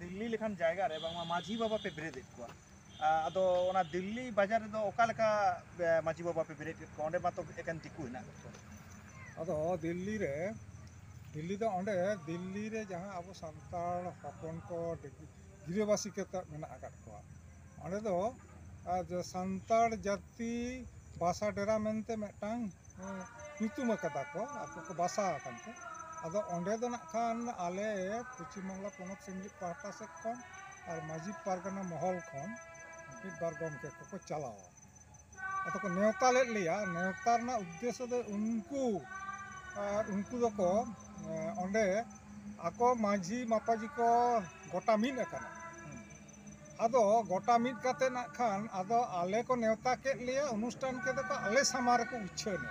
ᱫᱤᱞᱞᱤ ᱞᱮᱠᱟᱱ ᱡᱟᱭᱜᱟ ᱨᱮ ᱵᱟᱝᱢᱟ ᱢᱟᱹᱡᱷᱤ ᱵᱟᱵᱟ ᱯᱮ ᱵᱮᱨᱮᱫ ᱮᱫ ᱠᱚᱣᱟ ᱟᱫᱚ ᱚᱱᱟ ᱫᱤᱞᱞᱤ ᱵᱟᱡᱟᱨ ᱨᱮᱫᱚ ᱚᱠᱟ ᱞᱮᱠᱟ ᱢᱟᱹᱡᱷᱤ ᱵᱟᱵᱟ ᱯᱮ ᱵᱮᱨᱮᱫ ᱮᱫ ᱠᱚᱣᱟ ᱚᱸᱰᱮ ᱢᱟᱛᱚ ᱮᱠᱮᱱ ᱫᱤᱠᱩ ᱦᱮᱱᱟᱜ ᱠᱚ ᱟᱫᱚ ᱫᱤᱞᱞᱤ ᱨᱮ ᱫᱤᱞᱞᱤ ᱫᱚ ᱚᱸᱰᱮ ᱫᱤᱞᱞᱤ ᱨᱮ ᱡᱟᱦᱟᱸ ᱟᱵᱚ ᱥᱟᱱᱛᱟᱲ ᱦᱚᱯᱚᱱ ᱠᱚ ᱜᱤᱨᱟᱹᱵᱟᱹᱥᱤ ᱠᱟᱛᱮᱫ ᱢᱮᱱᱟᱜ ᱟᱠᱟᱫ ᱠᱚᱣᱟ ᱚᱸᱰᱮ ᱫᱚ ᱟᱨ ᱥᱟᱱᱛᱟᱲ ᱡᱟᱹᱛᱤ ᱵᱟᱥᱟ ᱰᱮᱨᱟ ᱢᱮᱱᱛᱮ ᱢᱤᱫᱴᱟᱝ ᱧᱩᱛᱩᱢ ᱟᱠᱟᱫᱟ ᱠᱚ ᱟᱠᱚ ᱠᱚ ᱵᱟᱥᱟ ᱟᱠᱟᱱ ᱛᱮ ᱟᱫᱚ ᱚᱸᱰᱮ ᱫᱚ ᱱᱟᱜ ᱠᱷᱟᱱ ᱟᱞᱮ ᱯᱚᱪᱷᱤᱢ ᱵᱟᱝᱞᱟ ᱯᱚᱱᱚᱛ ᱥᱤᱢᱞᱤᱯ ᱯᱟᱦᱴᱟ ᱥᱮᱫ ᱠᱷᱚᱱ ᱟᱨ ᱢᱟᱹᱡᱷᱤ ᱯᱟᱨᱜᱟᱱᱟ ᱢᱚᱦᱚᱞ ᱠᱷᱚᱱ ᱢᱤᱫ ᱵᱟᱨ ᱜᱚᱢᱠᱮ ᱠᱚᱠᱚ ᱪᱟᱞᱟᱣᱟ ᱟᱫᱚ ᱠᱚ ᱱᱮᱣᱛᱟ ᱞᱮᱫ ᱞᱮᱭᱟ ᱱᱮᱣᱛᱟ ᱨᱮᱱᱟᱜ ᱩᱫᱽᱫᱮᱥᱥᱚ ᱫᱚ ᱩᱱᱠᱩ ᱟᱨ ᱩᱱᱠᱩ ᱫᱚᱠᱚ ᱚᱸᱰᱮ ᱟᱠᱚ ᱢᱟᱹᱡᱷᱤ ᱢᱟᱯᱟᱡᱷᱤ ᱠᱚ ᱜᱚᱴᱟ ᱢᱤᱫ ᱟᱠᱟᱱᱟ ᱟᱫᱚ ᱜᱚᱴᱟ ᱢᱤᱫ ᱠᱟᱛᱮ ᱱᱟᱜ ᱠᱷᱟᱱ ᱟᱫᱚ ᱟᱞᱮ ᱠᱚ ᱱᱮᱣᱛᱟ ᱠᱮᱫ ᱞᱮᱭᱟ ᱚᱱᱩᱥᱴᱷᱟᱱ ᱠᱮᱫᱟ ᱠᱚ ᱟᱞᱮ ᱥᱟᱢᱟᱝ ᱨᱮᱠᱚ ᱩᱪᱷᱟᱹᱱ ᱮᱱᱟ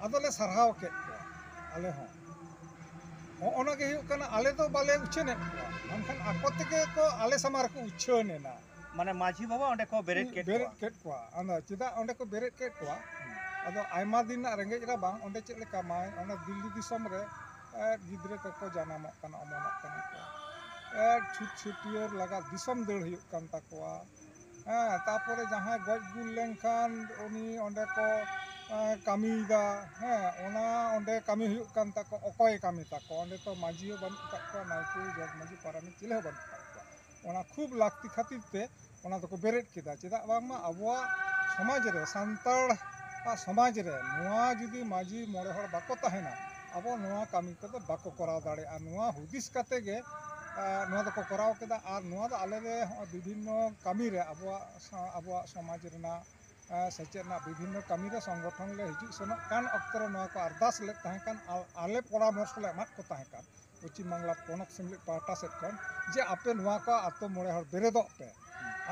ᱟᱫᱚ ᱞᱮ ᱥᱟᱨᱦᱟᱣ ᱠᱮᱫ ᱠᱚᱣᱟ ᱟᱞᱮ ᱦᱚᱸ ᱦᱚᱸᱜᱼᱚᱱᱟ ᱜᱮ ᱦᱩᱭᱩᱜ ᱠᱟᱱᱟ ᱟᱞᱮ ᱫᱚ ᱵᱟᱞᱮ ᱩᱪᱷᱟᱹᱱ ᱮᱫ ᱠᱚᱣᱟ ᱢᱮᱱᱠᱷᱟᱱ ᱟᱠᱚ ᱛᱮᱜᱮ ᱠᱚ ᱟᱞᱮ ᱥᱟᱢᱟᱝ ᱨᱮᱠᱚ ᱩᱪᱷᱟᱹᱱ ᱮᱱᱟ ᱢᱟᱱᱮ ᱢᱟᱹᱡᱷᱤ ᱵᱟᱵᱟ ᱚᱸᱰᱮ ᱠᱚ ᱵᱮᱨᱮᱫ ᱠᱮᱫ ᱵᱮᱨᱮᱫ ᱠᱚᱣᱟ ᱠᱮᱫ ᱠᱚᱣᱟ ᱟᱫᱚ ᱪᱮᱫᱟᱜ ᱚᱸᱰᱮ ᱠᱚ ᱵᱮᱨᱮᱫ ᱠᱮᱫ ᱠᱚᱣᱟ ᱟᱫᱚ ᱟᱭᱢᱟ ᱫᱤᱱ ᱨᱮᱱᱟᱜ ᱨᱮᱸᱜᱮᱡ ᱨᱟᱵᱟᱝ ᱚᱸᱰᱮ ᱪᱮᱫ ᱞᱮᱠᱟ ᱢᱟᱭ ᱚᱱᱟ ᱫᱤᱞᱞᱤ ᱫᱤᱥᱚᱢ ᱨᱮ ᱜᱤᱫᱽᱨᱟᱹ ᱠᱚᱠᱚ ᱡᱟᱱᱟᱢᱚᱜ ᱠᱟᱱᱟ ᱚᱢᱚᱱᱚᱜ ᱠᱟᱱᱟ ᱠᱚ ᱪᱷᱩᱛ ᱪᱷᱟᱹᱴᱭᱟᱹᱨ ᱞᱟᱜᱟᱜ ᱫᱤᱥᱚᱢ ᱫᱟᱹᱲ ᱦᱩᱭᱩᱜ ᱠᱟᱱ ᱛᱟᱠᱚᱣᱟ ᱦᱮᱸ ᱛᱟᱨᱯᱚᱨᱮ ᱡᱟᱦᱟᱸᱭ ᱜᱚᱡ ᱜᱩᱨ ᱞᱮᱱᱠᱷᱟᱱ ᱩᱱᱤ ᱚᱸᱰᱮ ᱠᱚ ᱠᱟᱹᱢᱤᱭᱮᱫᱟ ᱦᱮᱸ ᱚᱱᱟ ᱚᱸᱰᱮ ᱠᱟᱹᱢᱤ ᱦᱩᱭᱩᱜ ᱠᱟᱱ ᱛᱟᱠᱚᱣᱟ ᱚᱠᱚᱭᱮ ᱠᱟᱹᱢᱤ ᱛᱟᱠᱚᱣᱟ ᱚᱸᱰᱮ ᱛᱚ ᱢᱟᱹᱡᱷᱤ ᱦᱚᱸ ᱵᱟᱹᱱᱩᱜ ᱟᱠᱟᱫ ᱠᱚᱣᱟ ᱱᱟᱭᱠᱮ ᱡᱚᱜᱽ ᱢᱟᱹᱡᱷᱤ ᱯᱟᱨᱟᱱᱤᱠ ᱪᱤᱞᱤ ᱦᱚᱸ ᱵᱟᱹᱱᱩᱜ ᱟᱠᱟᱫ ᱠᱚᱣᱟ ᱚᱱᱟ ᱠᱷᱩᱵ ᱞᱟᱹᱠᱛᱤ ᱠᱷᱟᱹᱛᱤᱨ ᱛᱮ ᱚᱱᱟ ᱫᱚᱠᱚ ᱵᱮᱨᱮᱫ ᱠᱮᱫᱟ ᱪᱮᱫᱟᱜ ᱵᱟᱝᱢᱟ ᱟᱵᱚᱣᱟᱜ ᱥᱚᱢᱟᱡᱽ ᱨᱮ ᱥᱟᱱᱛᱟᱲ ᱟᱜ ᱥᱚᱢᱟᱡᱽ ᱨᱮ ᱱᱚᱣᱟ ᱡᱩᱫᱤ ᱢᱟᱹᱡᱷᱤ ᱢᱚᱬᱮ ᱦᱚᱲ ᱵᱟᱠᱚ ᱛᱟᱦᱮᱱᱟ ᱟᱵᱚ ᱱᱚᱣᱟ ᱠᱟᱹᱢᱤ ᱠᱚᱫᱚ ᱵᱟᱠᱚ ᱠᱚᱨᱟᱣ ᱫᱟᱲᱮᱭᱟᱜᱼᱟ ᱱᱚᱣᱟ ᱦᱩᱫᱤᱥ ᱠᱟᱛᱮ ᱜᱮ ᱱᱚᱣᱟ ᱫᱚᱠᱚ ᱠᱚᱨᱟᱣ ᱠᱮᱫᱟ ᱟᱨ ᱱᱚᱣᱟ ᱫᱚ ᱟᱞᱮ ᱨᱮ ᱦᱚᱸᱜᱼᱚᱭ ᱵᱤᱵᱷᱤᱱᱱᱚ ᱠᱟᱹᱢᱤ ᱨᱮ ᱟᱵᱚᱣᱟᱜ ᱟᱵᱚᱣᱟᱜ ᱥᱚᱢᱟᱡᱽ ᱨᱮᱱᱟᱜ ᱥᱮᱪᱮᱫ ᱨᱮᱱᱟᱜ ᱵᱤᱵᱷᱤᱱᱱᱚ ᱠᱟᱹᱢᱤ ᱨᱮ ᱥᱚᱝᱜᱚᱴᱷᱚᱱ ᱞᱮ ᱦᱤᱡᱩᱜ ᱥᱮᱱᱚᱜ ᱠᱟᱱ ᱚᱠᱛᱚ ᱨᱮ ᱱᱚᱣᱟ ᱠᱚ ᱟᱨᱫᱟᱥ ᱞᱮᱫ ᱛᱟᱦᱮᱸ ᱠᱟᱱ ᱟᱨ ᱟᱞᱮ ᱯᱚᱨᱟᱢᱚᱨᱥᱚ ᱞᱮ ᱮᱢᱟᱫ ᱠᱚ ᱛᱟᱦᱮᱸ ᱠᱟᱱ ᱯᱚᱪᱷᱤᱢ ᱵᱟᱝᱞᱟ ᱯᱚᱱᱚᱛ ᱥᱮᱢᱞᱮᱫ ᱯᱟᱦᱴᱟ ᱥᱮᱫ ᱠᱷᱚᱱ ᱡᱮ ᱟᱯᱮ ᱱᱚᱣᱟ ᱠᱚ ᱟᱛᱳ ᱢᱚᱬᱮ ᱦᱚᱲ ᱵᱮᱨᱮᱫᱚᱜ ᱯᱮ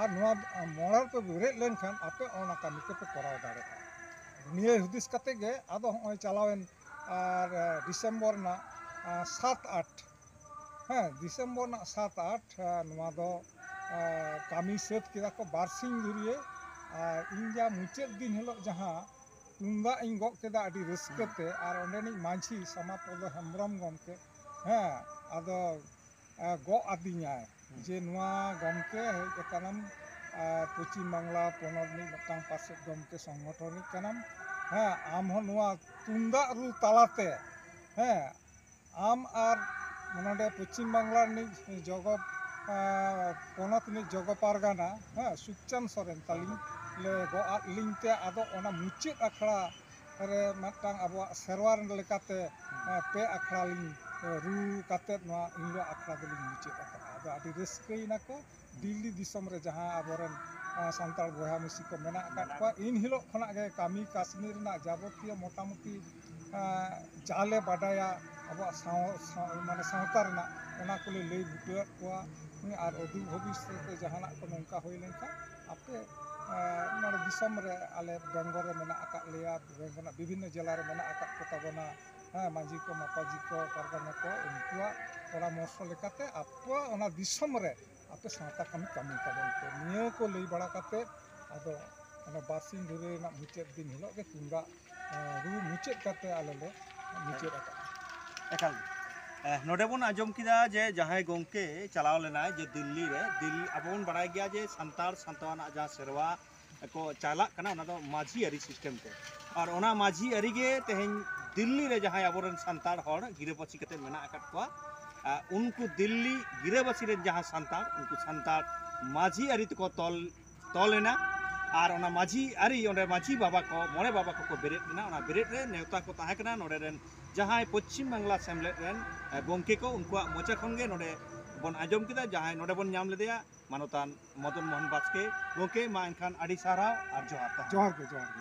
ᱟᱨ ᱱᱚᱣᱟ ᱢᱚᱬᱮ ᱦᱚᱲ ᱯᱮ ᱵᱮᱨᱮᱫ ᱞᱮᱱᱠᱷᱟᱱ ᱟᱯᱮ ᱚᱱᱟ ᱠᱟᱹᱢᱤ ᱠᱚᱯᱮ ᱠᱚᱨᱟᱣ ᱫᱟᱲᱮᱭᱟᱜᱼᱟ ᱱᱤᱭᱟᱹ ᱦᱩᱫᱤᱥ ᱠᱟᱛᱮ ᱜᱮ ᱟᱫᱚ ᱦᱚᱸᱜᱼᱚᱭ ᱪᱟᱞᱟᱣᱮᱱ ᱟᱨ ᱰᱤᱥᱮᱢᱵᱚᱨ ᱨᱮᱱᱟᱜ ᱥᱟᱛ ᱟᱴ ᱦᱮᱸ ᱰᱤᱥᱮᱢᱵᱚᱨ ᱨᱮᱱᱟᱜ ᱥᱟᱛ ᱟᱴ ᱱᱚᱣᱟ ᱫᱚ ᱠᱟᱹᱢᱤ ᱥᱟᱹᱛ ᱠᱮᱫᱟ ᱠᱚ ᱵᱟᱨ ᱥᱤᱧ ᱫᱷᱩᱨᱭᱟᱹ ᱟᱨ ᱤᱧ ᱡᱟ ᱢᱩᱪᱟᱹᱫ ᱫᱤᱱ ᱦᱤᱞᱳᱜ ᱡᱟᱦᱟᱸ ᱛᱩᱢᱫᱟᱜ ᱤᱧ ᱜᱚᱜ ᱠᱮᱫᱟ ᱟᱹᱰᱤ ᱨᱟᱹᱥᱠᱟᱹᱛᱮ ᱟᱨ ᱚᱸᱰᱮᱱᱤᱡ ᱢᱟᱺᱡᱷᱤ ᱥᱟᱢᱟᱯᱚᱫ ᱦᱮᱢᱵᱨᱚᱢ ᱜᱚᱢᱠᱮ ᱦᱮᱸ ᱟᱫᱚ ᱜᱚᱜ ᱟᱹᱫᱤᱧᱟᱭ ᱡᱮ ᱱᱚᱣᱟ ᱜᱚᱢᱠᱮ ᱦᱮᱡ ᱟᱠᱟᱱᱟᱢ ᱯᱚᱪᱷᱤᱢ ᱵᱟᱝᱞᱟ ᱯᱚᱱᱚᱛ ᱨᱤᱱᱤᱡ ᱢᱤᱫᱴᱟᱝ ᱯᱟᱨᱥᱮᱫ ᱜᱚᱢᱠᱮ ᱥᱚᱝᱜᱚᱴᱷᱚᱱ ᱨᱤᱱᱤᱡ ᱠᱟᱱᱟᱢ ᱦᱮᱸ ᱟᱢ ᱦᱚᱸ ᱱᱚᱣᱟ ᱛᱩᱢᱫᱟᱜ ᱨᱩ ᱛᱟᱞᱟᱛᱮ ᱦᱮᱸ ᱟᱢ ᱟᱨ ᱱᱚᱰᱮ ᱯᱚᱪᱷᱤᱢ ᱵᱟᱝᱞᱟ ᱨᱤᱱᱤᱡ ᱡᱚᱜᱚ ᱯᱚᱱᱚᱛ ᱨᱤᱱᱤᱡ ᱡᱚᱜᱚ ᱯᱟᱨᱜᱟᱱᱟ ᱦᱮᱸ ᱥᱩᱠᱪᱟᱸᱫᱽ ᱥᱚᱨᱮᱱ ᱛᱟᱹᱞᱤᱧ ᱞᱮ ᱜᱚᱜ ᱟᱫ ᱞᱤᱧ ᱛᱮ ᱟᱫᱚ ᱚᱱᱟ ᱢᱩᱪᱟᱹᱫ ᱟᱠᱷᱲᱟ ᱨᱮ ᱢᱤᱫᱴᱟᱝ ᱟᱵᱚᱣᱟᱜ ᱥᱮᱨᱣᱟ ᱞᱮᱠᱟᱛᱮ ᱯᱮ ᱟᱠᱷᱲᱟ ᱞᱤᱧ ᱨᱩ ᱠᱟᱛᱮᱫ ᱱᱚᱣᱟ ᱮᱱ ᱦᱤᱞᱳᱜ ᱟᱠᱷᱲᱟ ᱫᱚᱞᱤᱧ ᱢᱩᱪᱟᱹᱫ ᱟᱠᱟᱫᱼᱟ ᱟᱫᱚ ᱟᱹᱰᱤ ᱨᱟᱹᱥᱠᱟᱹᱭᱮᱱᱟ ᱠᱚ ᱫᱤᱞᱞᱤ ᱫᱤᱥᱚᱢ ᱨᱮ ᱡᱟᱦᱟᱸ ᱟᱵᱚᱨᱮᱱ ᱥᱟᱱᱛᱟᱲ ᱵᱚᱭᱦᱟ ᱢᱤᱥᱤ ᱠᱚ ᱢᱮᱱᱟᱜ ᱟᱠᱟᱫ ᱠᱚᱣᱟ ᱤᱱ ᱦᱤᱞᱳᱜ ᱠᱷᱚᱱᱟᱜ ᱜᱮ ᱠᱟᱹᱢᱤ ᱠᱟᱹᱥᱱᱤ ᱨᱮᱱᱟᱜ ᱡᱟᱵᱚᱛᱤᱭᱚ ᱢᱚᱴᱟᱢᱩᱴᱤ ᱡᱟᱞᱮ ᱵᱟᱰᱟᱭᱟ ᱟᱵᱚᱣᱟᱜ ᱥᱟᱶ ᱢᱟᱱᱮ ᱥᱟᱶᱛᱟ ᱨᱮᱱᱟᱜ ᱚᱱᱟ ᱠᱚᱞᱮ ᱞᱟᱹᱭ ᱵᱩᱴᱟᱹᱣᱟᱫ ᱠᱚᱣᱟ ᱟᱨ ᱚᱫᱩ ᱵᱷᱚᱵᱤᱥᱥᱚᱛ ᱨᱮ ᱡᱟᱦᱟᱱᱟᱜ ᱠᱚ ᱱᱚᱝᱠᱟ ᱦᱩᱭ ᱞᱮᱱᱠᱷᱟᱱ ᱟᱯᱮ ᱱᱚᱰᱮ ᱫᱤᱥᱚᱢ ᱨᱮ ᱟᱞᱮ ᱵᱮᱝᱜᱚᱞ ᱨᱮ ᱢᱮᱱᱟᱜ ᱟᱠᱟᱫ ᱞᱮᱭᱟ ᱵᱮᱝᱜᱚᱞ ᱨᱮᱱᱟᱜ ᱵᱤᱵᱷᱤᱱᱱᱚ ᱡᱮᱞᱟ ᱨᱮ ᱢᱮᱱᱟᱜ ᱟᱠᱟᱫ ᱠᱚᱛᱟ ᱵᱚᱱᱟ ᱦᱮᱸ ᱢᱟᱹᱡᱷᱤ ᱠᱚ ᱢᱟᱯᱟᱡᱷᱤ ᱠᱚ ᱯᱟᱨᱜᱟᱱᱟ ᱠᱚ ᱩᱱᱠᱩᱣᱟᱜ ᱯᱚᱨᱟᱢᱚᱨᱥᱚ ᱞᱮᱠᱟᱛᱮ ᱟᱯᱮᱭᱟᱜ ᱚᱱᱟ ᱫᱤᱥᱚᱢ ᱨᱮ ᱟᱯᱮ ᱥᱟᱶᱛᱟ ᱠᱟᱹᱢᱤ ᱠᱟᱹᱢᱤ ᱛᱟᱵᱚᱱ ᱯᱮ ᱱᱤᱭᱟᱹ ᱠᱚ ᱞᱟᱹᱭ ᱵᱟᱲᱟ ᱠᱟᱛᱮᱫ ᱟᱫᱚ ᱚᱱᱟ ᱵᱟᱨᱥᱤᱧ ᱫᱷᱚᱨᱮ ᱨᱮᱱᱟᱜ ᱢᱩᱪᱟᱹᱫ ᱫᱤᱱ ᱦᱤᱞᱳᱜ ᱜᱮ ᱛᱩᱢᱫᱟᱜ ᱨᱩ ᱢᱩᱪᱟᱹᱫ ᱠᱟᱛᱮᱫ ᱟᱞᱮ ᱞᱮ ᱢᱩᱪᱟᱹᱫ ᱟᱠᱟᱫᱟ ᱮᱠᱟᱞ ᱱᱚᱰᱮ ᱵᱚᱱ ᱟᱸᱡᱚᱢ ᱠᱮᱫᱟ ᱡᱮ ᱡᱟᱦᱟᱸᱭ ᱜᱚᱢᱠᱮ ᱪᱟᱞᱟᱣ ᱞᱮᱱᱟᱭ ᱡᱮ ᱫᱤᱞᱞᱤ ᱨᱮ ᱫᱤᱞᱞᱤ ᱟᱵᱚ ᱵᱚᱱ ᱵᱟᱲᱟᱭ ᱜᱮᱭᱟ ᱡᱮ ᱥᱟᱱᱛᱟᱲ ᱥᱟᱶᱛᱟ ᱨᱮᱱᱟᱜ ᱡᱟᱦᱟᱸ ᱥᱮᱨᱣᱟ ᱠᱚ ᱪᱟᱞᱟᱜ ᱠᱟᱱᱟ ᱚᱱᱟ ᱫᱚ ᱢᱟᱹᱡᱷᱤ ᱟᱹᱨᱤ ᱥᱤᱥᱴᱮᱢ ᱛᱮ ᱟᱨ ᱚᱱᱟ ᱢᱟᱹᱡᱷᱤ ᱟᱹᱨᱤ ᱜᱮ ᱛᱮᱦᱮᱧ ᱫᱤᱞᱞᱤ ᱨᱮ ᱡᱟᱦᱟᱸᱭ ᱟᱵᱚᱨᱮᱱ ᱥᱟᱱᱛᱟᱲ ᱦᱚᱲ ᱜᱤᱨᱟᱹᱵᱟᱹᱥᱤ ᱠᱟᱛᱮ ᱢᱮᱱᱟᱜ ᱟᱠᱟᱫ ᱠᱚᱣᱟ ᱩᱱᱠᱩ ᱫᱤᱞᱞᱤ ᱜᱤᱨᱟᱹᱵᱟᱹᱥᱤ ᱨᱮᱱ ᱡᱟᱦᱟᱸ ᱥᱟᱱᱛᱟᱲ ᱩᱱᱠᱩ ᱥᱟᱱᱛᱟᱲ ᱢᱟᱹᱡᱷᱤ ᱟᱹᱨᱤ ᱛᱮᱠᱚ ᱛᱚᱞ ᱛᱚᱞ ᱮᱱᱟ ᱟᱨ ᱚᱱᱟ ᱢᱟᱹᱡᱷᱤ ᱟᱹᱨᱤ ᱚᱸᱰᱮ ᱢᱟᱹᱡᱷᱤ ᱵᱟᱵᱟ ᱠᱚ ᱢᱚᱬᱮ ᱵᱟᱵᱟ ᱠᱚᱠᱚ ᱵᱮᱨᱮᱫ ᱮᱱᱟ ᱚᱱᱟ ᱵᱮᱨᱮᱫ ᱨᱮ ᱱᱮᱣᱛᱟ ᱠᱚ ᱛᱟᱦᱮᱸ ᱠᱟᱱᱟ ᱱᱚᱰᱮ ᱨᱮᱱ ᱡᱟᱦᱟᱸᱭ ᱯᱚᱪᱷᱤᱢ ᱵᱟᱝᱞᱟ ᱥᱮᱢᱞᱮᱫ ᱨᱮᱱ ᱜᱚᱢᱠᱮ ᱠᱚ ᱩᱱᱠᱩᱣᱟᱜ ᱢᱚᱪᱟ ᱠᱷᱚᱱ ᱜᱮ ᱱᱚᱰᱮ ᱵᱚᱱ ᱟᱸᱡᱚᱢ ᱠᱮᱫᱟ ᱡᱟᱦᱟᱸᱭ ᱱᱚᱰᱮ ᱵᱚᱱ ᱧᱟᱢ ᱞᱮᱫᱮᱭᱟ ᱢᱟᱱᱚᱛᱟᱱ ᱢᱚᱫᱚᱱ ᱢᱳᱦᱚᱱ ᱵᱟᱥᱠᱮ ᱜᱚᱢᱠᱮ ᱢᱟ ᱮᱱᱠᱷᱟᱱ ᱟᱹᱰᱤ ᱥᱟᱨᱦᱟᱣ ᱟᱨ ᱡᱚᱦᱟᱨ ᱛᱟᱦᱮᱱ ᱡᱚᱦᱟᱨ ᱜᱮ ᱡᱚᱦᱟᱨ ᱜᱮ